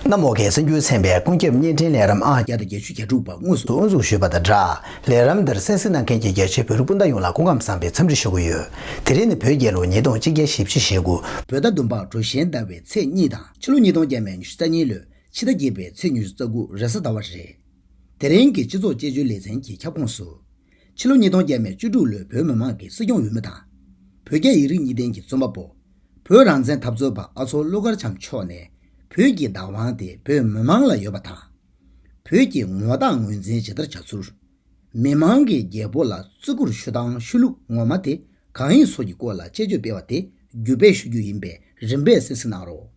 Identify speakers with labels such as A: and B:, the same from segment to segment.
A: གནམ་འོག་གི་སེམས་རྒྱུད་ཚན་པའི་ཀུན་ཁྱབ་བརྙན་འཕྲིན་ལས་རམ་ཨང་བརྒྱ་དང་བརྒྱད་ཅུ་གྱ་དྲུག་པ་དངོས་སུ་དབུ་འཛུགས་ཞུས་པ་དང་སྦྲགས་ལས་རམ་འདིར་གསན་གཟིགས་གནང་མཁན་གྱི་རྒྱ་ཆེའི་བོད་རིགས་སྤུན་ཟླ་ཡོངས་ལ་སྐུ་ཁམས་བཟང་པའི་འཚམས་འདྲི་ཞུ་གི་ཡོད། དེ་རིང་ནི་བོད་རྒྱལ་ལོ་ཉིས་སྟོང་གཅིག་བརྒྱ་བཞི་བཅུ་ཞེ་དགུ། བོད་ཟླ་བདུན་པ་གྲུ་གཞན་ཟླ་བའི་ཚེས་གཉིས་དང་ཕྱི་ལོ་ཉིས་སྟོང་བརྒྱད་མའི་ཉི་ཤུ་རྩ་གཉིས་ལོའི་ཕྱི་ཟླ་བརྒྱད་པའི་ཚེས་ཉེར་གསུམ་དགུ་རེས་གཟའ་ཟླ་བ་རེད། དེ་རིང་གི་སྤྱི་ཚོགས་དཔྱད་བརྗོད་ལེ་ཚན་གྱི་ཁྱབ་ཁོངས་སུ། ཕྱི་ལོ་ཉིས་སྟོང་བརྒྱད་མའི་བཅུ་དྲུག་ལོའི་བོད་མི་མང་གི་སྲིད་སྐྱོང་འོས་མི་དང། བོད་རྒྱ་ཡིག་རིགས་གཉིས་ལྡན་གྱི་རྩོམ་པ་པོ། བོད་རང་བཙན་འཐབ་རྩོད་པ་ཨ་ཚོགས་ཀླུ་མཁར་བྱམས་མཆོག་ནས་བོད་ཀྱི་བདག་དབང་དེ་བོད་མི་མང་ལ་ཡོད་པ་དང། བོད་ཀྱི་ངོ་རྟགས་ངོས་འཛིན་ཇི་ལྟར་བྱ་ཚུལ། མི་མང་གིས་རྒྱལ་པོ་ལ་བརྩི་བཀུར་ཞུ་སྟངས་ཤུལ་ལུགས་ངོ་མ་དེ་གང་ཡིན་སོགས་ཀྱི་སྐོར་ལ་དཔྱད་བརྗོད་སྤེལ་བ་དེ་
B: བརྒྱུད་སྤེལ་ཞུ་རྒྱུ་ཡིན་པས་རིམ་པས་གསན་གསུང་གནང་རོགས།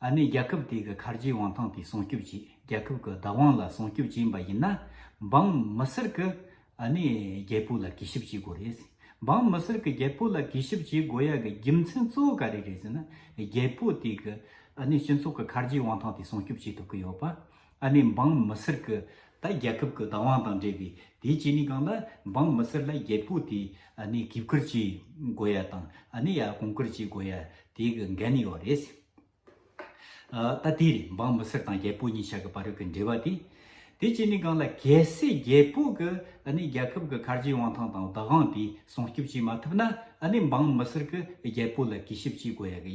B: ཨ་ནེ་རྒྱལ་ཁབ་དེ་གི་མཁར་རྒྱའི་དབང་ཐང་དེ་སྲུང་སྐྱོབ་བྱེད་རྒྱལ་ཁབ་གི་བདག་དབང་ལ་སྲུང་སྐྱོབ་བྱེད་པ་ཡིན་ན་འབངས་མི་སེར་གི་ཨ་ནེ་རྒྱལ་པོ་ལ་གུས་ཞབས་བྱེད་དགོས་རེད། འབངས་མི་སེར་གི་རྒྱལ་པོ་ལ་གུས་ཞབས་བྱེད་དགོས་ཡ་གི་རྒྱུ་མཚན་གཙོ་བོ་ག་རེ་རེད་ཟེར་ན་རྒྱལ་པོ་དེ་གི་ཨ་ནེ་སྤྱི་ཚོགས་གི་མཁར་རྒྱའི་དབང་ཐང་དེ་སྲུང་སྐྱོབ་བྱེད་ཐུབ་ཀི་ཡོད་པ། ཨ་ནེ་འབངས་མི་སེར་གི་ད་རྒྱལ་ཁབ་གི་བདག་དབང་དང་འབྲེལ་བའི་དེའི་རྐྱེན་ནི་གང་ལ་འབངས་མི་སེར་ལ་རྒྱལ་པོ་དེས་ཨ་ནེ་གིས་བཀུར་བྱེད་དགོས་ཡ་དང་ཨ་ནེ་ཡ་གོང་བཀུར་བྱེད་དགོས་ཡ་དེའི་གི་འགན་ཡོད་རེད། ད་དེ་རེད་འབངས་མི་སེར་དང་རྒྱལ་པོ་གཉིས་ཆ་གི་བར་གི་འབྲེལ་བ་དེ། དེའི་རྐྱེན་ནི་གང་ལ་གལ་སྲིད་རྒྱལ་པོ་གི་ཨ་ནེ་རྒྱལ་ཁབ་གི་ཁ་རྗེའི་དབང་ཐང་དང་བདག་དབང་དེ་སྲུང་སྐྱོབ་བྱེད་མ་ཐུབ་ན་ཨ་ནེ་འབངས་མི་སེར་གི་རྒྱལ་པོ་ལ་གུས་ཞབས་བྱེད་དགོས་ཡ་གི་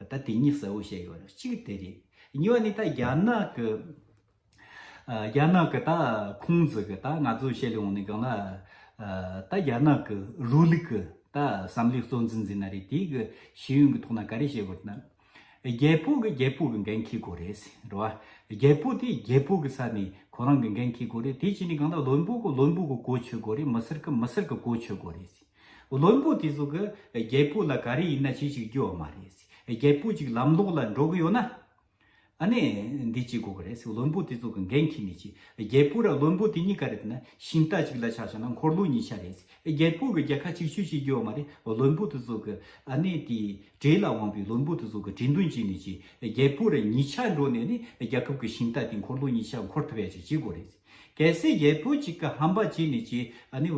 B: ད་དེ་གཉིས་གསལ་བོ་བཤད་ཡོད་རེད་གཅིག་དེ་རེད། གཉིས་པ་ནི་ད་རྒྱ་ནག་གི། རྒྱ་ནག་གི་ད་ཁུང་ཙི་གི་ད་ང་ཚོས་བཤད་ལོང་ནི་གང་ན། ད་རྒྱ་ནག་གི་རུའུ་ལིག་གི་ད་བསམ་བློའི་གཙོ་འཛིན་ཟིན་ན་རེད་དེ་གི་ཤེས་ཡོན་གི་ཐོག་ན་ག་རེ་བཤད་དགོས་ན། རྒྱལ་པོ་གི་རྒྱལ་པོ་གི་འགན་འཁྱེར་དགོས་རེད། འགྲོ་བ། རྒྱལ་པོ་དེ་རྒྱལ་པོ་གི་ས་ནས་ཁོ་རང་གི་འགན་འཁྱེར་དགོས་རེད་དེ་བྱས་ནས་གང་ན་བློན་པོ་གི་བློན་པོ་གི་གོ་ཆོད་དགོས་རེད་མི་སེར་གི་མི་སེར་གི་གོ་ཆོད་དགོས་རེད། བློན་པོ་དེ་ཚོ་གི་རྒྱལ་པོ་ལ་ག་རེ་ཡིན་ན་བྱེད་ཅིག་རྒྱུ་བ་མ་རེད། རྒྱལ་པོ་ཅིག་ལམ་ལོག་ལ་འགྲོ་གི་ཡོད་ན། ཨ་ནི་འདི་བྱེད་དགོས་ཀྱི་རེད། བློན་པོ་དེ་ཚོ་གི་འགན་ཁྱེར་ནས་བྱས། རྒྱལ་པོ་ར་བློན་པོ་དེ་གཉིས་ཀ་རེད་ན་ཤིང་རྟ་གཅིག་ལ་ཆགས་བྱས་ན་འཁོར་ལོ་གཉིས་ཆགས་རེད། རྒྱལ་པོ་གི་རྒྱལ་ཁ་གཅིག་ཆོད་བྱེད་རྒྱུ་བ་མ་རེད། བློན་པོ་དེ་ཚོ་གི་ཨ་ནི་དེ་གྲས་ལ་དབང་པོའི་བློན་པོ་དེ་ཚོ་གི་གྲས་མདུན་བྱས་ནས་བྱས། རྒྱལ་པོ་ར་གཉིས་ཆགས་འགྲོ་ནས་ནི་རྒྱལ་ཁབ་གི་ཤིང་རྟ་དེ་འཁོར་ལོ་གཉིས་ཆགས་འཁོར་ཐུབ་ཡ་ཅིག་བྱེད་དགོས་རེད། གལ་སྲིད་རྒྱལ་པོ་གཅིག་གི་ཧམ་པ་ཅི་ནས་ཅི་ནས་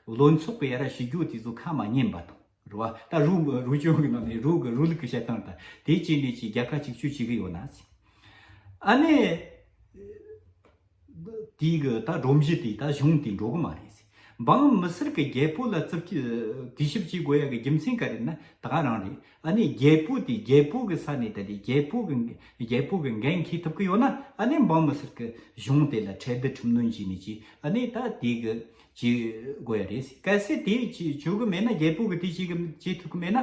B: བློན་ཚོགས་པའི་ར་ཞུ་རྒྱུ་དེ་ཚོ་ཁ་མ་སྙན་པ་དང་རུ་བ་ད་རུ་རུ་ཆུང་གི་ནང་ནས་རུ་གི་རུ་ལུག་གི་བཤད་སྟངས་དང་དེ་ཅི་ནས་ཅི་རྒྱལ་ཁ་གཅིག་གཅོད་བྱེད་གི་ཡོད་ན་ཟེར། ཨ་ནེ། དེའི་གི་ད་སྒྲོམ་གཞི་དེ་ད་གཞུང་དེ་འགྲོ་གི་མ་རེད་ཟེར། འབངས་མི་སེར་གྱི་རྒྱལ་པོ་ལ་རྩིབས་ཀྱི་དུས་ཞིབ་ཅིག་དགོས་ཡ་གི་རྒྱུ་མཚན་ག་རེད་ན་ད་ག་རང་རེད་ཨ་ནི་རྒྱལ་པོ་དེ་རྒྱལ་པོ་གི་ས་ནས་ད་དེ་རྒྱལ་པོ་གི་རྒྱལ་པོ་གི་འགན་འཁྱེར་ཐུབ་གི་ཡོད་ན་ཨ་ནི་འབངས་མི་སེར་གྱི་གཞུང་དེ་ལ་ཁྲལ་བསྡུ་ཁྲིམས་གནོན་བྱས་ནས་ཀྱི་ཨ་ནི་ད་དེ་གི་བྱེད་དགོས་ཡ་རེད་གལ་སྲིད་དེ་བྱེད་དགོས་མེད་ན་རྒྱལ་པོ་གི་དེ་བྱེད་གི་བྱེད་ཐུབ་གི་མེད་ན།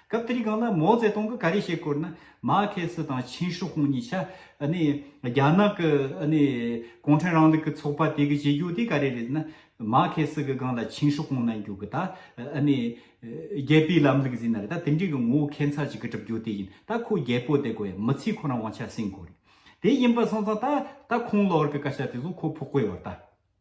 B: སྐབས་དེར་གང་ལ་མོ་ཙེ་ཏུང་གི་ག་རེ་བྱེད་སྐོར་ནི་མ་ཁེ་སི་དང་ཆིན་ཧྲི་ཧུང་གཉིས་ཆ་རྒྱ་ནག་གི་གུང་ཁྲན་རང་ལུགས་ཀྱི་ཚོགས་པ་དེ་གི་བྱེད་རྒྱུ་དེ་ག་རེ་རེད་ན་མ་ཁེ་སི་གི་སྒང་ལ་ཆིན་ཧྲི་ཧུང་གནང་རྒྱུ་གི་ད་རྒྱལ་པོའི་ལམ་ལུགས་ཟིན་ན་རེད་ད་དེ་འདྲའི་གི་ངོ་བོ་ཁེ་མཚར་ཅིག་གི་གྲུབ་རྒྱུ་དེ་ཡིན་ད་ཁོ་རྒྱལ་པོ་དེ་གོ་ཡང་མི་ཚེ་ཁོ་རང་དབང་ཆ་ཟིན་དགོས་རེད་དེ་ཡིན་པ་སོང་ཙང་ད་ད་ཁོང་ལོར་གི་སྐད་ཆ་དེ་ཚོ་ཁོ་ཕོ་རྐོས་བར་ད།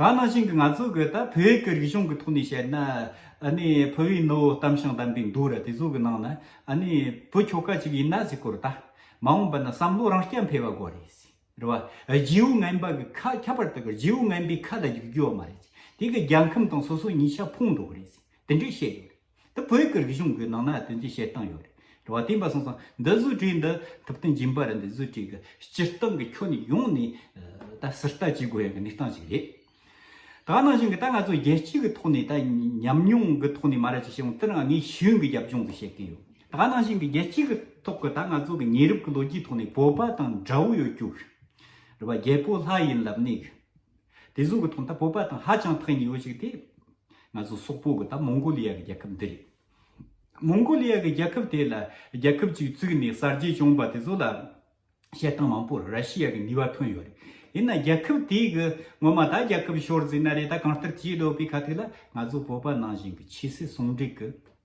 B: ད་ནང་བཞིན་གྱི་ང་ཚོས་གོས་དང་བོད་ཡིག་གི་རིག་གཞུང་གི་ཐོག་ནས་བཤད་ན། བོད་པའི་ནོར་བུ་གཏམ་ཤིང་དམ་པའི་འདུ་ར་དེ་ཚོ་གི་ནང་ན། བུ་ཁྱོ་ག་ཅིག་ཡིན་ན་ཟིག་གོ་རེ་ད། མ་འོངས་པ་ན་བསམ་བློ་རང་སྐྱ་འཕེལ་བ་དགོས་རེད། རེད་བ། རྗེའུ་རྔན་པ་གི་ཁ་ཁྱད་པར་དུ་རྗེའུ་རྔན་པའི་ཁ་ལ་རྒྱུག་རྒྱུ་བ་མ་རེད། དེ་གི་རྒྱལ་ཁམས་དང་སོ་སོ་ཉིས་ཆ་ཕུང་འགྲོ་གི་རེད། དེ་འདྲས་བཤད་ཡོད་རེད། འདི་བོད་ཀྱི་རིག་གཞུང་གི་ནང་ན་དོན་གྱི་བཤད་སྟངས་ཡོད་རེད། བ་དེ་འབའ་སོང་སང་འདི་བཟོ་གྲས་འདི་ཐུབ་བསྟན་སྦྱིན་པ་རི་འདི་བཟོ་གྲས་ཀྱི་སྤྱིར་བཏང་གི་ཁྱོན་ནས་ཡོང་ནས་ད་སི་རྟ་བྱེད་དགོས་ཡང་གི་གནས་སྟངས་ཞིག་རེད། ད་ནང་བཞིན་གི་ད་ང་ཚོ་རྒྱལ་སྤྱི་གི་ཐོག་ནས་ད་ཉམས་མྱོང་གི་ཐོག་ནས་མ་ར་ཅིག་བྱས་ཡོང་དེ་རང་ངས་ཤེས་ཡོན་གྱི་རྒྱབ་ལྗོངས་ཀྱི་བཤད་ཀྱིན་ཡོད། ད་ནང་བཞིན་གི་རྒྱལ་སྤྱི་གི་ཐོག་གི་ད་ང་ཚོ་གི་ཉེ་རབས་ཀྱི་ལོ་རྒྱུས་ཐོག་ནས་བོད་པ་དང་འདྲ་བོ་ཡོད་རྒྱུ། རེད་བ་རྒྱལ་པོ་ལྷ་ཡིན་ལབ་ནས། དེ་བཟུང་གི་ཐོག་མཐའ་བོད་པ་དང་ཧ་ཅང་ཐག་ཉེ་བོ་ཞིག་དེ། ང་ཚོ་སོག་པོ་གི་ད་མོང་གོ་ལི་ཡ་གི་རྒྱལ་ཁབ་འདི་རེད། མོང་གོ་ལི་ཡ་གི་རྒྱལ་ཁབ་དེ་ལ་རྒྱལ་ཁབ་ཅིག་བཙུགས་ནས་གསར་བརྗེ་བྱུང་བ་དེ་ཚོ་ལ། བཤད་སྟངས་མང་པོར་ར་ཤི་ཡ་གི་ནུས་བ་ཐོན་ཡོད་རེད། ཡིན་ན་རྒྱལ་ཁབ་དེ་གི་ངོ་མ་ད་རྒྱལ་ཁབ་ཤོར་ཟིན་ན་རེད་ད་གང་ལྟར་བྱེད་འགྲོ་པའི་ཁ་ཐུག་ལ་ང་ཚོ་བོད་པ་ནང་བཞིན་གྱི་ཆོས་སྲིད་ཟུང་འབྲེལ་གྱི།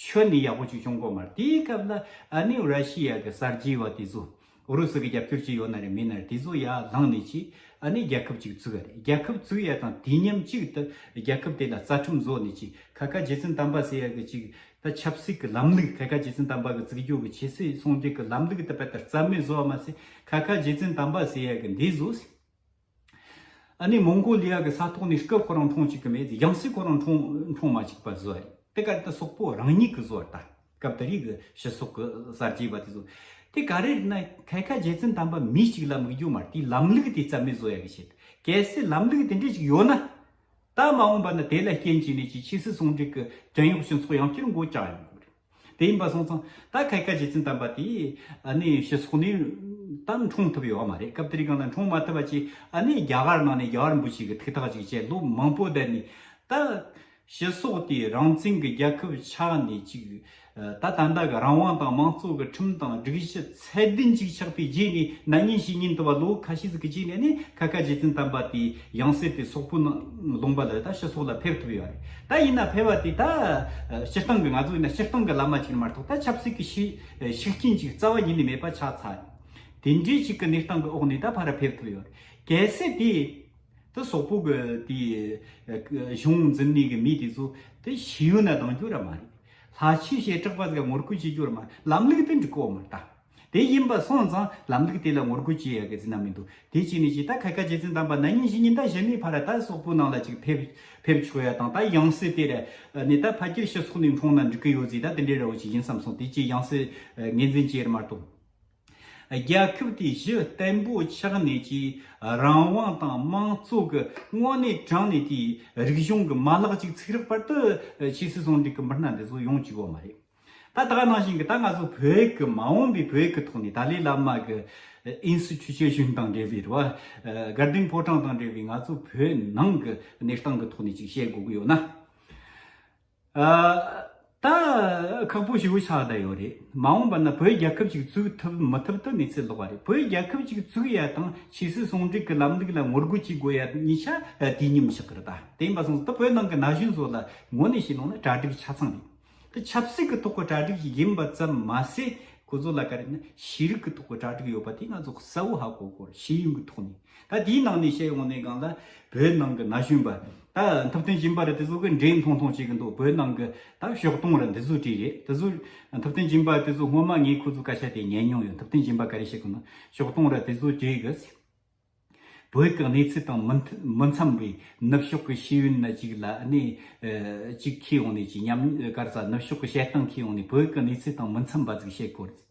B: ཆོས་ནི་ཡག་པོ་ཅིག་བྱུང་གོ་མ་རེད་དེའི་སྐབས་ལ་ཨ་ནི་ར་ཤི་ཡ་གི་གསར་བརྗེའི་བ་དེ་ཚོ་ཨུ་རུ་སུ་གི་རྒྱབ་སྐྱོར་ཅིག་ཡོད་ན་རེད་མིན་ན་རེད་དེ་ཚོ་ཡར་ལངས་ནས་ཅིག་ཨ་ནི་རྒྱལ་ཁབ་ཅིག་བཙུགས་ཡ་རེད་རྒྱལ་ཁབ་བཙུགས་ཡ་དང་དུས་མཉམ་གཅིག་ཏུ་རྒྱལ་ཁབ་དེ་ལ་རྩ་ཁྲིམས་བཟོ་ནས་ཅིག་ཁ་ཁ་རྗེ་བཙུན་དམ་པ་ཟེར་ཡ་གི་ཅིག་ད་ཆབ་སྲིད་གི་ལམ་ལུགས་ཁ་ཁ་རྗེ་བཙུན་དམ་པ་གི་བཙིར་རྒྱུག་གི་ཆེ་སྲིད་སྲུང་རྒྱུག་གི་ལམ་ལུགས་ད་པ་ད་རྩ་མེད་བཟོ་བ་མ་ཟད་ཁ་ཁ་རྗེ་བཙུན་དམ་པ་ཟེར་ཡ་གི་འདི་བཟོ་སྲིད་ཨ་ནི་མོང་གོ་ལི་ཡ་གི་ས་ཐོག་ནས་སྐབས་ཁོ་རང་མཐོང་ཅིག་གི་མེད་ཚེ་རྒྱང་སྲིད་ཁོ་རང་མཐོང་མཐོང་མ་ཅིག་པ་བཟོ་བ་རེད་དེ་ག་དེ་སོག་པོ་རང་ཉིད་གི་བཟོ་བ་ད་སྐབས་ད་རིག་གི་ཕྱི་སོག་གི་གསར་བརྗེ་བ་དེ་བཟོ་དེ་ག་རེད་ན་ཐད་ཀ་རྗེ་བཙུན་དམ་པ་མི་ཅིག་ལ་མིག་རྒྱུ་མ་དེའི་ལམ་ལུགས་དེ་རྩ་མེད་བཟོ་ཡ་གི་བྱེད་གལ་སྲིད་ལམ་ལུགས་དེ་འདྲས་ཅིག་ཡོད་ན་ད་མ་འོངས་པ་ན་དེ་ལ་རྐྱེན་བྱས་ནས་ཀྱི་ཕྱི་སྲིད་ཟུང་འབྲེལ་གི་བྲན་གཡོག་སྤྱི་ཚོགས་ཡང་བསྐྱར་འགོ་བཅག་ཡོང་དགོས་རེད། དེ་ཡིན་པ་སོང་ཙང་ད་ག་གི་ཀ་རྗེ་བཙུན་དམ་པ་དེས་ཨ་ནི་ཤི་སོགས་ནས་ཏང་འཁྲུངས་ཐུབ་ཡོད་མ་རེད་སྐབས་དེར་ཡང་ན་འཁྲུངས་མ་ཐུབ་པ་ཅིག་ཨ་ནི་རྒྱ་གར་ནང་ནས་རྒྱ་གར་འབུ་ཞིག་གི་ཐིག་ཐག་ཅིག་བཅད་ལོ་མང་པོ་བསྡད་ནས་ད་ཤི་སོགས་དེས་རང་བཙན་གི་རྒྱལ་ཁབ་ཆགས་ནས་ཅིག་ད་ད་ལྟ་གི་རང་དབང་དང་མང་གཙོ་གི་ཁྲིམས་དང་སྒྲིག་གཞི། ཚད་ལྡན་གཅིག་ཆགས་པའི་རྗེས་ནས་ན་ཉིན་བཞི་ཉིན་དུ་བ་ལོའུ་ཁ་ཤིས་ཀྱི་རྗེས་ནས་ནི་ཁ་ཁ་རྗེ་བཙུན་དམ་པ་དེའི་ཡང་སྲིད་པའི་སོག་པོའི་ནང་ལུང་པ་ལ་ད་ཕྱི་སོག་ལ་ཕེབས་ཐུབ་ཡོད་རེད་ད་ཡིན་ན་ཕེབས་བ་དེ་ད་སྤྱིར་བཏང་གི་ང་ཚོ་ཡིན་ན་སྤྱིར་བཏང་གི་བླ་མ་ཅིག་མ་གཏོགས་ད་ཆབ་སྲིད་ཀྱི་ཤེས་ཤིག་ཅན་ཅིག་རྩ་བ་ཉིད་ནས་མེད་པ་ཆགས་ཚར་དེ་འདྲའི་ཞིག་གི་གནས་སྟངས་ཀྱི་འོག་ནས་ད་ཕར་ཕེབས་ཐུབ་ཡོད་རེད་གལ་སྲིད་དེ་ད་སོག་པོ་གི་དེའི་གཞུང་འཛིན་གནས་ཀྱི་མི་དེ་ཚོ་ད་ཤི་ཡོད་ན་གདང་རྒྱུ་ར་མ་རེད། ལྷ་ཆོས་ཞེས་གྲགས་པ་དེ་ག་ངོ་རྒོལ་བྱེད་རྒྱུར་མ་ལམ་ལུགས་དེ་འགྲིག་གོ་མ་རྟ། དེ་ཡིན་པ་སོང་ཙང་ལམ་ལུགས་དེ་ལ་ངོ་རྒོལ་བྱེད་ཡ་གི་ཟིན་ན་མི་འདུག་དེ་གཅིག་ནས་གཅིག་ད་ཁ་ཁ་རྗེ་བཙུན་དམ་པ་ན་ཉིན་བཞི་ཉིན་ད་གཞི་མེད་ཕར་ད་སོག་པོ་ནང་ལ་ཅིག་ཕེབས་ཆོག་ཡ་དང་ད་ཡང་སྲིད་དེ་ར་ནས་ད་ཕ་ཁྱེར་ཤི་སོག་ནས་འཁྲུངས་ན་འགྲིག་གི་ཡོད་ཟིག་ད་དེ་འདྲའི་ར་བོ་ཅིག་ཡིན་བསམ་སོང་དེ་གཅིག་ཡང་སྲིད་ངེས་འཛིན་བྱེད་ཡར་མ་གཏོགས། རྒྱལ་ཁབ་དེའི་གཞི་བརྟན་པོ་ཆགས་ནས་ཀྱི་རང་དབང་དང་དམངས་གཙོ་གི་དངོས་གནས་དྲངས་ནས་དེའི་རིག་གཞུང་གི་མ་ལག་ཅིག་ཚིག་རག་པར་དུ་ཕྱིས་སུ་ཟུང་འབྲེལ་གྱི་མི་སྣ་འདི་ཚོ་ཡོང་བཅུག་བ་མ་རེད། ད་ལྟ་ནང་བཞིན་གྱི་ད་ང་ཚོ་བོད་ཀྱི་མ་འོངས་པའི་བོད་ཀྱི་ཐོག་ནས་ཏཱ་ལའི་བླ་མ་གི་ཨིན་སི་ཐུ་ཆོས་གཞུང་དང་འབྲེལ་བའི་རེ་བ། སྒར་སྡིངས་ཕོ་བྲང་དང་འབྲེལ་བའི་ང་ཚོ་བོད་ནང་གི་གནས་སྟངས་གི་ཐོག་ནས་ཅིག་བཤད་དགོས་ཀྱི་ཡོད་ན། ད་ཁག་པོ་ཞི་བོ་ཆགས་བསྡད་ཡོད་རེད་མ་འོངས་པ་ན་བོད་རྒྱལ་ཁབ་ཅིག་བཙུགས་ཐུབ་མི་ཐུབ་ཏུ་གནས་ཚུལ་ལོག་པ་རེད་བོད་རྒྱལ་ཁབ་ཅིག་བཙུགས་ཡ་དང་ཕྱིས་སུ་ཟུང་འབྲེལ་གྱི་ལམ་ལུགས་ལ་ངོ་རྒོལ་བྱེད་དགོས་ཡ་གཉིས་ཆ་དུས་མཉམ་བཞག་གི་རེད་ད་དེ་མ་སོང་ད་བོད་ནང་གི་ན་གཞོན་ཚོ་ལ་ངོ་ནས་བཤད་ལོང་ན་གྲ་སྒྲིག་ཆ་ཚང་རེད་ད་ཆབ་སྲིད་ཀྱི་ཐོག་གི་གྲ་སྒྲིག་ཞིག་ཡིན་པ་ཙམ་མ་ཟད་ཁོ་ཚོ་ལ་ག་རེ་ན་ཤེས་རིག་གི་ཐོག་གི་གྲ་སྒྲིག་ཡོད་པ་དེ་ང་ཚོ་གསལ་བོ་ཧ་གོ་དགོས་རེད་ཤེས་ཡོན་གྱི་ཐོག་ནས་ད་དེའི་ནང་ནས་བཤད་ཡོང་ནའི་སྒང་ལ་བོད་ནང་གི་ན་གཞོན་པ། ད་འཐབ་བརྟུན་སྦྱིན་པ་རེད་དེ་ཚོ་གི་འདྲེ་མཐོང་མཐོང་བྱེད་གི་འདུག་བོད་ནང་གི་ད་ཞོགས་དུང་རེད་འདི་ཚོ་གྲི་རེད་དེ་ཚོ་འཐབ་བརྟུན་སྦྱིན་པ་དེ་ཚོ་སྔོན་མ་ངས་ཁོ་ཚོ་སྐད་ཆ་དེ་ཉན་མྱོང་ཡོད་འཐབ་བརྟུན་སྦྱིན་པ་ག་རེ་བྱེད་གི་འདུག་ཞོགས་དུང་རེད་དེ་ཚོ་གྲི་གི། བོད་ཀྱི་གནས་ཚུལ་དང་མི་འཚམས་པའི་ནུབ་ཕྱོགས་ཀྱི་ཤེས་ཡོན་ན་ཅིག་ལ་ནས་ཅིག་ཁྱེད་ཡོང་ནས་ཅིག་ཉམས་དཀར་ཚ་ནུབ་ཕྱོགས་ཀྱི་བཤད་སྟངས་ཁྱེད་ཡོང་ནས་བོད་ཀྱི་གནས་ཚུལ་དང་མི་འཚམས་པ་ཟིག་བཤད་དགོས་རེད།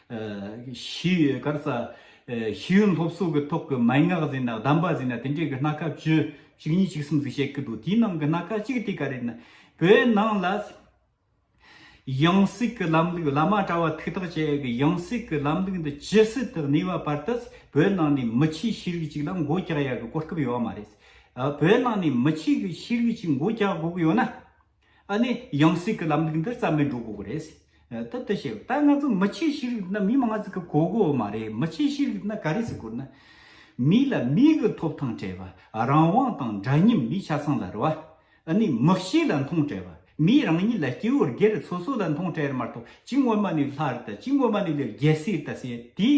B: བཞི། སྐར་རྩ། ཤེས་ཡོན་སློབ་གསོ་གི་ཐོག་གི་མན་ངག་ཟིན་ན་གདམས་པ་ཟིན་ན་དེ་འདྲའི་གི་སྣ་ཁ་བཅུ། གཅིག་གཉིས་གཅིག་གསུམ་ཟིག་བཤད་གི་འདུག་དེའི་ནང་གི་སྣ་ཁ་གཅིག་དེ་ག་རེད་ན། བོད་ནང་ལ། ཡང་སྲིད་གི་ལམ་ལུགས་བླ་མ་གྲྭ་བ་ཐུགས་ཐག་བཅད་གི་ཡང་སྲིད་གི་ལམ་ལུགས་འདི་ཇི་སྲིད་དུ་གནས་བ་བར་དུ་བོད་ནང་ནས་མི་ཆིག་ཤེས་རིག་ཅིག་ལ་མགོ་བཀྱག་ཡ་གི་གོ་སྐབས་ཡོད་བ་མ་རེད། བོད་ནང་ནས་མི་ཆིག་ཤེས་རིག་ཅིག་མགོ་བཀྱག་དགོས་གི་ཡོད་ན། ཨ་ནི་ཡང་སྲིད་ཀྱི་ལམ་ལུགས་འདི་རྩ་མེད་འགྲོ་དགོས་ཀྱི་རེད། ད་ལྟ་བཤད་ད་ང་ཚོ་མི་ཆེས་ཤེས་རིག་ན་མི་མང་ཙིག་གི་གོ་གོ་མ་རེད་མི་ཆེས་ཤེས་རིག་ན་ག་རེ་ཟིག་གོ་ན། མི་ལ་མིའི་གི་ཐོབ་ཐང་བྲལ་བ་རང་དབང་དང་འདྲ་མཉམ་མི་ཆ་ཚང་ལ་རེ་བ། ཨ་ནི་མི་གཤིས་ལ་མཐོང་བྲལ་བ་མིའི་རང་ཉིད་ལ་སྐྱེ་བོར་སྒེར་ཚོ་སོ་ལ་མཐོང་བྲལ་མ་གཏོགས་ཅི་སྔོན་མ་ནས་ལྷར་ད་ཅི་སྔོན་མ་ནས་ལས་རྒྱལ་སྲིད་ད་ཟེར་དེ།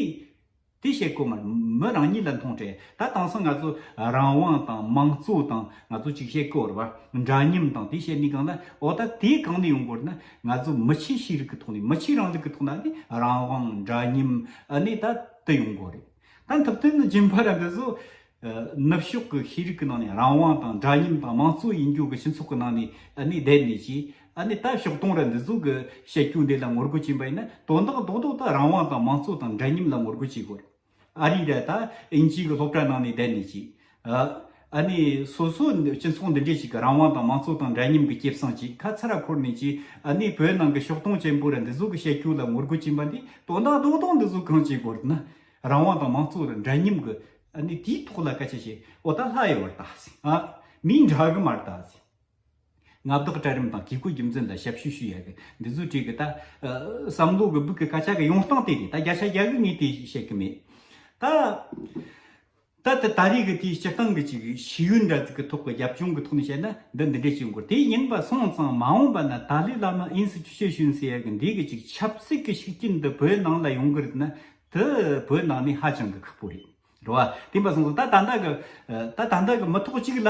B: དེ་བཤད་དཀོན་མར་མོ་རང་ཉིད་ལ་མཐོང་འཕྲལ་ད་དང་སང་ང་ཚོ་རང་དབང་དང་དམངས་གཙོ་དང་ང་ཚོ་ཅིག་བཤད་དཀོར་བ་འདྲ་མཉམ་དང་དེ་བཤད་ནི་གང་ལ་འོ་ད་དེ་གང་ནས་ཡོང་དཀོར་ན་ང་ཚོ་མི་ཆེ་ཤེས་རིག་གི་ཐོག་ནས་མི་ཆེ་རང་ལུགས་ཀྱི་ཐོག་ན་ནི་རང་དབང་འདྲ་མཉམ་ནི་ད་དུ་ཡོང་དཀོར་རེད་ད་འཐབ་དོན་ནི་རྗེན་པ་ར་འདི་ཚོ་ནུབ་ཕྱོགས་ཀྱི་ཤེས་རིག་གི་ནང་ནས་རང་དབང་དང་འདྲ་མཉམ་དང་མང་གཙོ་ཡིན་རྒྱུ་གི་སྤྱི་ཚོགས་ཀྱི་ནང་ནས་ནས་བསྡད་མེད་ཅེས་ནས་ད་ཕྱོགས་སྟོང་ར་འདི་ཚོ་གི་བཤད་རྒྱུ་འདི་ལ་ངོ་རྒོལ་བྱེད་པ་ཡིན་ན་དོན་དག་རྡོག་རྡོག་ད་རང་དབང་དང་མང་གཙོ་དང་འདྲ་མཉམ་ལ་ངོ་རྒོལ་བྱེད་དགོས་ཨ་རི་ར་ད་དབྱིན་ཇིའི་གི་སློབ་གྲྭ་ནང་ནས་བསྡད་མེད་ཅེས་ཨ་ནས་སོ་སོ་སྤྱི་ཚོགས་འདི་འདྲས་ཞིག་གི་རང་དབང་དང་མང་གཙོ་དང་འདྲ་མཉམ་གི་སྐྱེ་བསང་ཅིག་ཁ་ཚ་ར་འཁོར་ནས་ཅེས་ནས་བོད་ནང་གི་ཕྱོགས་སྟོང་ཅན་པོ་ར་འདི་ཚོ་གི་བཤད་རྒྱུ་ལ་ངོ་རྒོལ་བྱེད་པ་འདི་དོན་དག་རྡོག་རྡོག་འདི་ཚོ་གང་བྱེད་དགོས་ར་ན་རང་དབང་དང་མང་གཙོ་ལ་འདྲ་མཉམ་གི། ནི་དེའི་ཐོག་ལ་སྐད་ཆ་བཤད། འོ་ད་ལྷ་ཡི་བར་དག་ཟིན། ཨ། མིའི་འདྲ་གི་མར་དག་ཟིན། མངའ་བདག་གྲལ་རིམ་དང་བཀས་བཀོད་རྒྱུ་མཚན་དང་ཞབས་ཞུ་ཞུ་ཡག་གི་འདི་ཚོ་བྲིས་གི་ད། བསམ་བློ་གི་སྦུག་གི་སྐད་ཆ་གི་ཡོང་སྟངས་དེ་རེད་ད་བརྒྱ་ཆ་བརྒྱ་གི་ངས་དེ་བཤད་གི་མེད། ད། ད་ལྟ་ད་རེས་ཀྱི་དེའི་སྤྱིར་བཏང་གི་ཅིག་ཤེས་ཡོན་དྲ་ཚིགས་ཀྱི་ཐོག་གི་རྒྱབ་ལྗོངས་ཀྱི་ཐོག་ནས་བཤད་ན་འདི་འདི་འདྲའི་ཞིག་མགོ་དེ་ཡིན་པ་སོང་ཙང་མ་འོངས་པ་ན་ཏཱ་ལའི་བླ་མ་ཨིན་སི་ཅུ་ཤེས་ཤུན་སི་ཡར་གྱི་འདི་གི་ཅིག་ཆབ་སྲིད་ཀྱི་ཤུགས་རྐྱེན་འདི་བོད་ནང་ལ་ཡོང་གི་རེད་ན་དེ་བོད་ནང་ནས་ཧ་ཅང་གི་ཁག་པོ་རེད་རེད་བ། དེ་འབའ་སོང་ཙང་ད་ད་འདའ་གི་ད་ད་འདའ་གི་མི་ཐོག་ཅིག་ལ་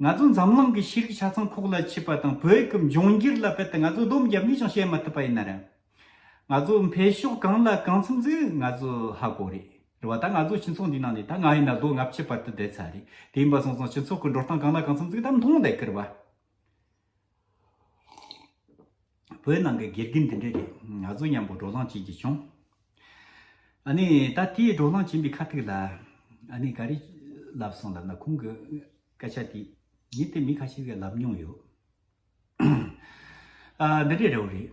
B: ང་ཚོ་འཛམ་གླིང་གི་ཤེས་རིག་ཆ་ཚང་ཁོག་ལ་ཆུད་པ་དང་བོད་ཀྱི་འབྱུང་འགྱུར་ལ་བལྟས་ཏེ་ང་ཚོ་སྡོམ་རྒྱབ་ནས་ཀྱང་བཤད་མ་ཐུབ་པ་ཡིན་ན་རེད། ང་ཚོ་འཕེལ་ཕྱོགས་གང་ལ་གང་འཚམ་ཟིག་ང་ཚོ་ཧ་གོ་རེད། རེད་བ་ད་ང་ཚོ་སྤྱི་ཚོགས་འདིའི་ནང་ནས་ད་ང་ཡིན་ན་ལོ་ལྔ་བཅུའི་བར་དུ་བསྡད་ཚར་རེད་དེ་ཡིན་པ་སོང་སོང་སྤྱི་ཚོགས་ཀྱི་འགྲོ་སྟངས་གང་ལ་གང་འཚམ་ཟིག་ད་མཐོང་བསྡད་ཀིར་བ། བོད་ནང་གི་དགེ་རྒན་འདི་འདྲ་རེད་ང་ཚོ་མཉམ་པོ་འགྲོ་ལངས་བྱེད་ཀྱི་བྱུང། ཨཱ་ནི་ད་དེ་འགྲོ་ལངས་བྱེད་པའི་ཁ་ཐུག་ལ་ཨཱ་ནི་ག་རེ་ལབ་སོང་ལབ་ན་ཁོང་གི་སྐད་ཆ་དེ་ཉིད་དེ་མི་ཁ་ཤས་ཀྱིས་ལབ་མྱོང་ཡོད། འདི་འདྲའི་རེ་བ་རེད།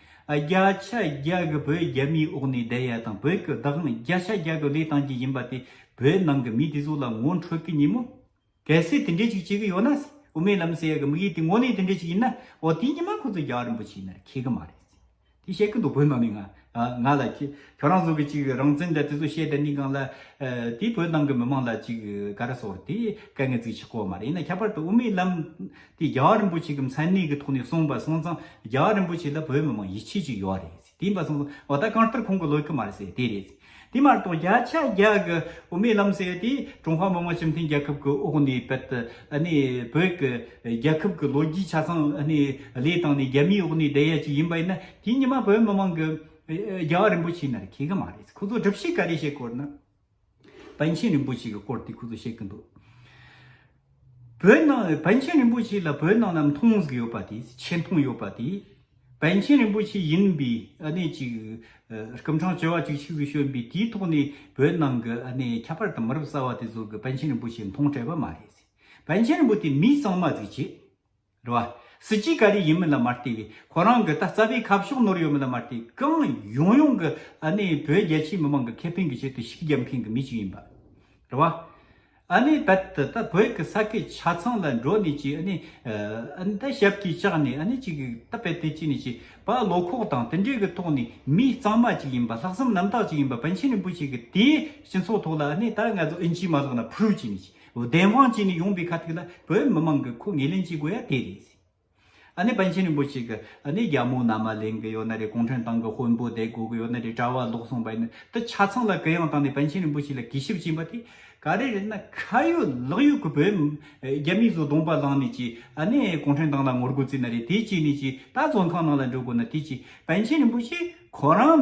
B: བརྒྱ་ཆ་བརྒྱ་གི་བོད་རྒྱ་མིའི་དབུགས་ནི་བསྡད་ཡ་དང་བོད་ཀྱི་བདག་དབང་བརྒྱ་ཆ་བརྒྱ་གི་ལས་བཏང་གི་ཡིན་པ་དེ་བོད་ནང་གི་མི་དེ་ཚོ་ལ་ངོ་འཕྲོད་གི་ཉིན་མོ། གལ་སྲིད་དེ་འདྲས་ཅིག་བྱེད་གི་ཡོད་ན། དབུ་མའི་ལམ་ཟེར་ཡ་གི་དམིགས་ཡུལ་དེ་དངོས་གནས་དེ་འདྲས་ཅིག་ཡིན་ན་འོ་དེའི་ཉི་མ་ཁོ་ཚོ་རྒྱ་རིན་པོ་ཆེའི་ནར་ཁེལ་གི་མ་རེད། དེ་བཤད་གི་འདུག་བོད་ནང་ནས་ང། ང་ལ། ཁྱོད་རང་ཚོ་གི་ཅིག་རང་བཙན་དེ་དེ་ཚོ་བཤད་དེ་ནི་གང་ལ། དེ་བོད་ནང་གི་མི་མང་ལ་ཅིག་ག་རེ་བཟོ་བར་དེ་དཀའ་ངལ་ཚིག་ཆག་གོ་བ་མ་རེད་ཡིན་ན་ཁྱད་པར་དུ་དབུ་མའི་ལམ། དེ་རྒྱ་གར་རིན་པོ་ཆེ་གི་མཚན་གནས་ཀྱི་ཐོག་ནས་གསུངས་པ་སོང་ཙང་རྒྱ་གར་རིན་པོ་ཆེ་ལ་བོད་མི་མང་ཡིད་ཆེས་ཅིག་ཡོད་རེད་དེ་ཡིན་པ་སོང་ཙང་འོ་ད་གང་ལྟར་ཁོང་གི་ལོ་རྒྱུས་མ་རེད་ཟེར་དེ་རེད་དེ་མ་གཏོགས་བརྒྱ་ཆ་བརྒྱ་གི་དབུ་མའི་ལམ་ཟེར་དེ་ཀྲུང་ཧྭ་མི་དམངས་སྤྱི་མཐུན་རྒྱལ་ཁབ་ཀྱི་འོག་ནས་བོད་དུ་གནས་བོད་ཀྱི་རྒྱལ་ཁབ་ཀྱི་ལོ་རྒྱུས་ཆ་ཚང་གནས་ལས་བཏང་ནས་རྒྱ་མིའི་འོག་ནས་བསྡད་ཡ་ཅིག་ཡིན་པ་ཡིན་ན་དེ་ཉི་མ་བོད་མི་མང་གི་རྒྱ་གར་རིན་པོ་ཆེ་ནི་རེ་ཁེ་གི་མ་རེད་ཁོ་ཚོ་སྒྲུབ་བྱེད་ག་རེ་བྱེད་དགོས་ན། བན་ཆེན་རིན་པོ་ཆེ་གི་སྐོར་དེ་ཁུ་ཚུར་བཤད་ཀྱི་འདུག་བོད་ནང་བན་ཆེན་རིན་པོ་ཆེ་ལ་བོད་ནང་ནམ་མཐོང་ཟིག་ཡོད་པ་དེ་ཆེ་མཐོང་ཡོད་པ་དེ་བན་ཆེན་རིན་པོ་ཆེ་ཡིན་པའི་ཨ་ནེ་ཅིག་སྐུ་འཕྲང་བཅོལ་བ་ཅིག་ཆིག་ཟིག་ཤོན་པའི་དེའི་ཐོག་ནས་བོད་ནང་གི་ཨ་ནེ་ཁྱད་པར་དུ་མི་རབས་གསར་བ་དེ་ཚོར་གི་བན་ཆེན་རིན་པོ་ཆེ་མཐོང་བྲལ་བ་མ་རེད་བན་ཆེན་རིན་པོ་དེ་མི་གཙང་མ་ཟིག་བྱེད། རེད་བ། སྲིད་སྤྱི་ག་རེ་ཡིན་མིན་ལ་མ་བལྟས་པའི་ཁོ་རང་གི་ད་རྩ་བའི་ཁ་ཕྱོགས་ནོར་ཡོད་མིན་ལ་མ་བལྟས་གང་ཡོང་ཡོང་གི་ཨ་ནི་བོད་རྒྱལ་སྤྱིའི་མི་མང་གི་ཁེ་ཕན་གི་ཆེད་དུ་ཤིག་རྒྱབ་མཁན་གི་མི་གཅིག་ཡིན་པ། རེད་བ། ཨ་ནི་ད་ད་ད་བོད་གི་ས་ཁའི་ཆ་ཚང་ལ་འགྲོ་ནས་ཅིག་ཨ་ནི་ཨ་ནི་ད་ཞབས་ཀྱིས་བཅག་ནས་ཨ་ནི་ཅིག་ད་བལ་ཏེ་ཅིག་ནས་ཅིག་བ་བློ་ཁོག་དང་དེ་འདྲའི་གི་ཐོག་ནས་མི་གཙང་མ་ཅིག་ཡིན་པ་ལྷག་བསམ་རྣམ་དག་ཅིག་ཡིན་པ་པཎ་ཆེན་རིན་པོ་ཆེ་གི་དེའི་སྤྱི་ཚོགས་ཐོག་ལ་ཨ་ནི་ད་ང་ཚོ་ཨིན་ཇིའི་མ་ལག་ན་ཕུར་བུ་བཅིངས་ནས་ཅིག་བདེན་དབང་བཅས་ནི་ཡོང་པའི་ཁ་ཐུག་ལ་བོད་མི་མང་གི་ཁུ་ངལ་ལེན་བྱེད་དགོས་ཡ་དེ་རེད། ཨ་ནི་པཎ་ཆེན་རིན་པོ་ཆེ་གི་ཨ་ནི་རྒྱ་མོ་ན་མ་ལེན་གི་ཡོད་ན་རེད་གུང་ཁྲན་ཏང་གི་དཔོན་པོ་བསྡད་དགོས་གི་ཡོད་ན་རེད་གྲྭ་བ་ལོག་སོང་བ་ཡིན་ན་དེ་ཆ་ཚང་ལ་གུ་ཡངས་བཏང་ནས་པཎ་ཆེན་རིན་པོ་ཆེ་ལ་གུས་ཞབས་བྱིན་པ་དེ་ག་རེ་རེད་ན་ཁ་ཡོད་ལག་ཡོད་གི་བོད་རྒྱ་མིས་བཟོ་གདོང་པ་བླངས་ནས་ཀྱི་ཨ་ནི་གུང་ཁྲན་ཏང་ལ་ངོ་རྒོལ་བརྩིས་ན་རེད་དེ་བྱས་ནས་ཀྱི་ད་བཙོན་ཁང་ནང་ལ་འགྲོ་དགོས་ན་དེ་ཀྱི་པཎ་ཆེན་རིན་པོ་ཆེ་ཁོ་རང་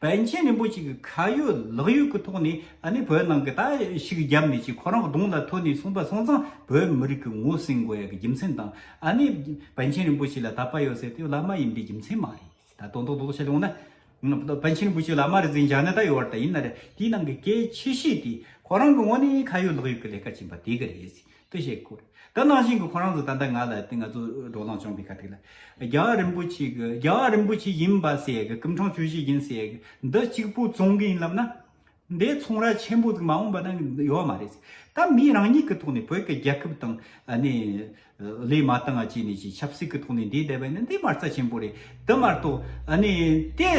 B: བན་ཆེན་རིན་པོ་ཆེ་གི་ཁ་ཡོད་ལག་ཡོད་ཀྱི་ཐོག་ནས་ཨ་ནི་བོད་ནང་གི་ད་ཞིག་རྒྱབ་མི་བྱེད་ཁོ་རང་གདོང་ལ་ཐོན་ནས་གསུངས་པ་སོང་ཙང་བོད་མི་རིགས་ཀྱི་ངོ་སྲིང་དགོས་ཡག་གི་རྒྱུ་མཚན་དང་ཨ་ནི་བན་ཆེན་རིན་པོ་ཆེ་ལ་དད་པ་ཡོད་ཟེར་དུས་བླ་མ་ཡིན་པའི་རྒྱུ་མཚན་མ་རེད་ད་དོན་དོག་དོག་བྱས་ཡོང་ན་བན་ཆེན་རིན་པོ་ཆེ་བླ་མ་རེད་ཟེར་འཇགས་ན་ད་ཡོད་བར་ད་ཡིན་ན་རེད་དེའི་ནང་གི་གལ་ཆེ་ཤོས་དེ་ཁོ་རང་གི་ངོ་ནས་ཁ་ཡོད་ལག་ཡོད་ཀྱི་ལས་ཀ་བྱིན་པ་དེ་ག་རེད། ཏུ་ཞེས་བསྐུར། དེ་ནང་བཞིན་གྱི་ཁོང་རང་ཚོ་ད་ལྟ་ང་ལ་ང་ཚོ་འགྲོ་སྟངས་བྱུང་བའི་ཁ་ཐིག་ལ། རྒྱ་གར་རིན་པོ་ཆེ་གི་རྒྱ་གར་རིན་པོ་ཆེ་ཡིན་པ་ཟེར་གི་ཀུན་འཕྲང་ཆོས་བཞི་ཡིན་ཟེར་གི་འདི་གཅིག་པུ་བཙོང་གི་ཡིན་ལབ་ན། འདི་ཚོང་ར་ཆེན་པོ་ཙིག་མ་འོངས་པ་ན་ཡོད་མ་རེད། ད་མི་རང་ཉིད་ཀྱི་ཐོག་ནས་བོད་ཀྱི་རྒྱལ་ཁབ་དང་ནས་ལས་མ་བཏང་བ་བྱས་ནས་ཆབ་སྲིད་ཀྱི་ཐོག་ནས་འདི་བསྡད་པ་ནི་འདི་མ་རྩ་ཆེན་པོ་རེད་དེ་མ་གཏོགས་ནས་དེ་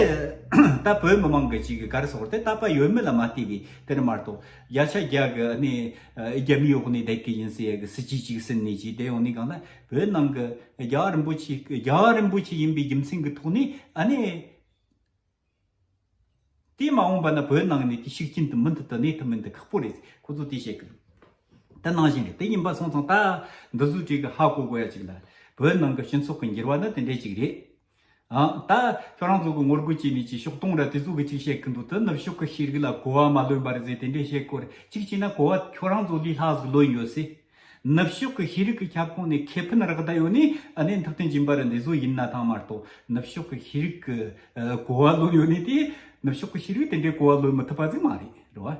B: ད་བོད་མི་མང་གི་གཅིག་གི་གར་སོགས་དེ་ད་པ་ཡོད་མེད་ལ་མ་བལྟས་པའི་དེར་མ་གཏོགས། རྒྱ་ཆ་རྒྱ་གི་ནི་རྒྱ་མི་ཡོག་ནི་དད་གི་ཡིན་སི་ཡ་གི་སི་ཅི་ཅིག་སིན་ནི་ཅིག་དེ་ཡོག་ནི་གང་ན་བོད་ནང་གི་རྒྱ་རིན་པོ་ཆེ་རྒྱ་རིན་པོ་ཆེ་ཡིན་པའི་རྒྱུ་མཚན་གི་ཐོག་ནི་ཨ་ནི་དེ་མ་འོངས་པ་ན་བོད་ནང་ནི་དེ་ཤུགས་རྐྱེན་དུ་མི་འདུག་ཏུ་གནས་ཐུབ་མིན་དུ་ཁག་པོ་རེད་ཁོ་ཚོ་དེ་བཤད་གི་འདུག་དེ་ནང་བཞིན་རེད་དེ་ཡིན་པ་སོང་ཙང་ད་འདི་བཟོ་བྱེད་གི་ཧ་གོ་གོ་ཡ་ཅིག་ལ་བོད་ནང་གི་སྤྱི་ཚོགས་གི་འགྱུར་བ་ནི་དེ་འདྲ་ཅིག་རེད། ད་ཁྱོད་རང་ཚོ་གི་ངོ་རྒོལ་བྱས་མེད་ཅེས་ཕྱོགས་སྟོང་ར་དེ་ཚོ་གི་ཅིག་བཤད་གི་འདུག་དེ་ནུབ་ཕྱོགས་ཀྱི་ཤེས་རིག་ལ་གོ་བ་མ་ལོན་པ་རེད་ཟེར་དེ་འདྲས་བཤད་དགོས་རེད་གཅིག་བྱས་ན་གོ་བ་ཁྱོད་རང་ཚོ་ལས་ལྷག་ཟིག་ལོན་ཡོད་སྲིད། ནུབ་ཕྱོགས་ཀྱི་ཤེས་རིག་གི་ཁྱབ་ཁོངས་ནས་ཁེ་ཕན་རག་ད་ཡོད་ནི་ཨ་ནེ་འཐབ་རྟེན་གྱི་འབའ་རི་འདི་ཚོ་ཡིན་ན་ཐང་མ་གཏོགས་ནུབ་ཕྱོགས་ཀྱི་ཤེས་རིག་གི་གོ་བ་ལོན་ཡོད་ནི་དེ་ནུབ་ཕྱོགས་ཀྱི་ཤེས་རིག་དེ་འདྲས་གོ་བ་ལོན་མི་ཐུབ་པ་ཟིག་མ་རེད་རེད་བ།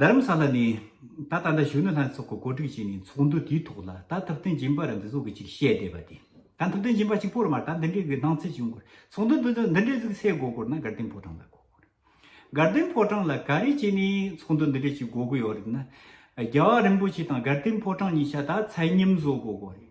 B: རྡ་རམ་ས་ལ་ནས་ད་ལྟ་འདྲ་གཞོན་ནུ་ལྷན་ཚོགས་ཀྱི་གོ་སྒྲིག་བྱས་ནས་ཚོགས་འདུ་དེའི་ཐོག་ལ་ད་ཐུབ་བསྟན་སྦྱིན་པ་ར་འདི་ཚོ་གི་ཅིག་བཤད་བསྡད་པ་དེ། ད་ཐུབ་བསྟན་སྦྱིན་པ་གཅིག་པོ་ར་མར་ད་འདི་འདྲའི་གི་སྣང་ཚུལ་ཅིག་ཡོང་དགོས་རེད་ཚོགས་འདུ་འདི་ཚོ་འདི་འདྲའི་ཚིག་གསལ་གོ་དགོས་ན་དགའ་ལྡན་ཕོ་བྲང་ལ་གོ་དགོས་རེད། དགའ་ལྡན་ཕོ་བྲང་ལ་ག་རེ་བྱས་ནས་ཚོགས་འདུ་འདི་འདྲའི་ཅིག་གོ་དགོས་ཡོད་རེད་ན། རྒྱལ་བ་རིན་པོ་ཆེ་དང་དགའ་ལྡན་ཕོ་བྲང་གཉིས་ཆ་ད་ཚད་མཉམ་བཟོ་གོ་དགོས་རེད།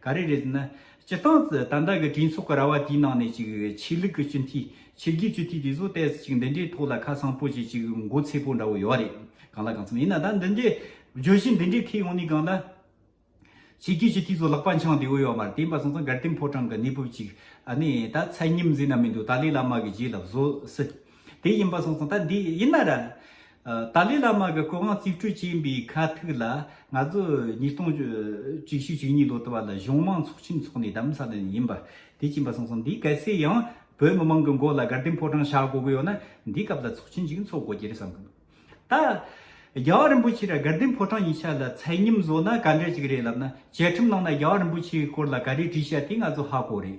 B: ག་རེ་རེད་ཟེར་ན། སྤྱིར་བཏང་ད་ལྟ་གི་གྲོས་ཚོགས་ཀྱི་ར་བ་དེའི་ནང་ནས་ཅིག་ཆོས་ལུགས་ཀྱི་སྤྱི་འཐུས་ཕྱི་རྒྱལ་སྤྱི་འཐུས་དེ་ཚོ་ལྟས་ཅིག་འདི་འདྲའི་ཐོག་ལ་ཁ་སང་པོ་ཅིག་ཅིག་མགོ་ཚེ་པོ་འདྲ་བོ་ཡོད་རེད་གང་ལ་གང་འཚམ་ཡིན་ན་ད་འདི་འདྲའི་བརྗོད་གཞི་འདི་འདྲའི་ཐད་ཡོང་ནས་གང་ལ། ཕྱི་རྒྱལ་སྤྱི་འཐུས་ཚོ་ལག་པ་འཆང་དེ་འོས་ཡོད་མ་རེད་དེ་འབའ་སང་སང་གར་སྟེང་ཕོ་བྲང་གི་གནས་བབ་ཅིག་ཨ་ནི་ད་ཚད་ཉིམ་ཟེར་ན་མི་འདུག་ཏཱ་ལའི་བླ་མ་གི་རྗེས་ལ་བཟོ་སྲིད། དེ་ཡིན་པ་སོང་སོང་ད་འདི་ཡིན་ན་ར། ཏཱ་ལའི་བླ་མ་གི་སྐུ་དབང་རྩིས་སྤྲོད་བྱས་པའི་ཁ་ཐུག་ལ་ང་ཚོ་ཉིས་སྟོང་བཅུ་བཞི་བཅུ་གཉིས་ལོ་དུ་བ་ལ་གཞུང་དམངས་ཚོགས་ཆེན་འཚོགས་ནས་གདམ་ས་ནི་ཡིན་པ་དེ་ཅིན་པ་སོང་སོང་འདི་གལ་སྲིད་ཡང་བོད་མི་མང་གི་མགོ་ལ་དགར་ལྡིང་ཕོ་བྲང་བྱ་དགོ་གི་ཡོད་ན་འདི་སྐབས་ལ་ཚོགས་ཆེན་ཅིག་འཚོགས་དགོ་གི་རེད་བསམ་གི་འདུག་ད། རྒྱལ་བ་རིན་པོ་ཆེ་ལ་དགར་ལྡིང་ཕོ་བྲང་ཡིག་ཆ་ལ་མཚན་སྙིམ་བཟོ་ན་ག་འདྲ་ཅིག་རེད་ལབ་ན་བཅའ་ཁྲིམས་ནང་ན་རྒྱལ་བ་རིན་པོ་ཆེའི་སྐོར་ལ་ག་རེ་བྲིས་བྱ་དེ་ང་ཚོ་ཧ་གོ་རེད།